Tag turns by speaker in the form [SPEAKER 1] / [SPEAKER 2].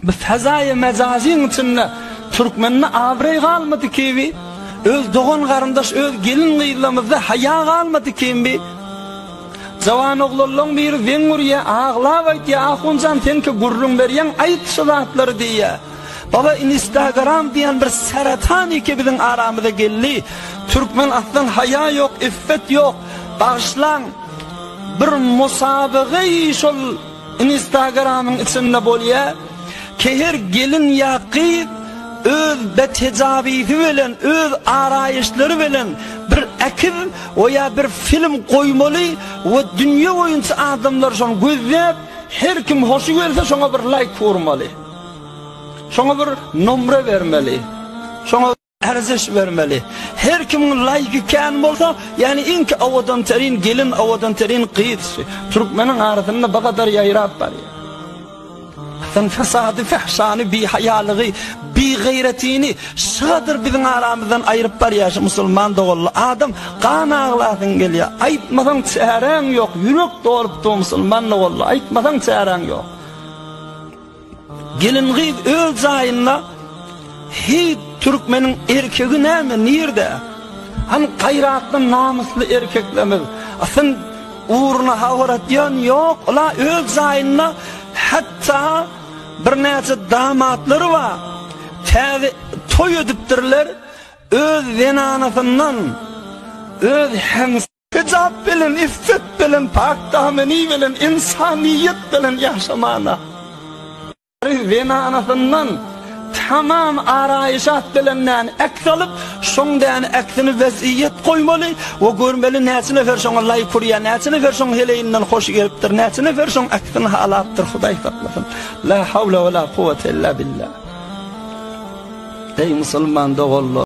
[SPEAKER 1] Bu fezaýy mejazyň içinde türkmende abraý galmady kibi, öz dogan garyndaş öz gelin gyzlarymyzda haýa galmady kimbi. Jawan oglanlaryň biri weň urýa, aglap aýtýa, ahunjan sen ki gürrüň berýän, aýt şu zatlary diýýä. Baba Instagram diýen bir seratan iki biziň aramyza geldi. Türkmen aslan haýa ýok, iffet ýok. Bagşlaň bir musabagy şol Instagramyň içinde bolýa ki her gelin ýa gyz öz betejabyzy bilen öz araýyşlary bilen bir äkiz we ýa bir film goýmaly we dünýe boýunça adamlar şony gözläp her kim hoşy gelse şoňa bir laýk urmaly. Şoňa bir nomra bermeli. Şoňa Arzyş bermeli. Her kimiň laýyky kän bolsa, ýagny iň ki awadan terin gelin, awadan terin gyz. Türkmeniň arasynda bu gadar ýaýrap barýar. Sen fesady, fehşany, bihaýalygy, bigaýratini şadyr biziň aramyzdan aýryp barýar şu musulman doganly adam. Gan aglasyň gelýär. Aýtmasaň çäräň ýok. Ýürek dolup dur musulman doganly. Aýtmasaň çäräň ýok. Gelin gyz öz jaýynda Heý türkmeniň erkegi näme nirde? Han gaýratly namysly erkeklerimiz asyn ugruna habar atýan ýok, ola öz jaýynda hatda birnäçe damatlary bar. Täze toý edipdirler öz zenanasyndan öz hems Hijap bilen, iffet bilen, pak dameni bilen, insaniýet bilen ýaşamana. Gyz zenanasyndan tamam araýşat bilendan aks alyp, şoň dän aksini weziýet goýmaly we görmeli näçe nefer şoňa laýk urýar, näçe nefer şoň heleýinden hoş gelipdir, näçe nefer şoň aksini halapdyr, Hudaý saklasyn. La hawla we la kuwwete illa billah. Eý musulman doganlar!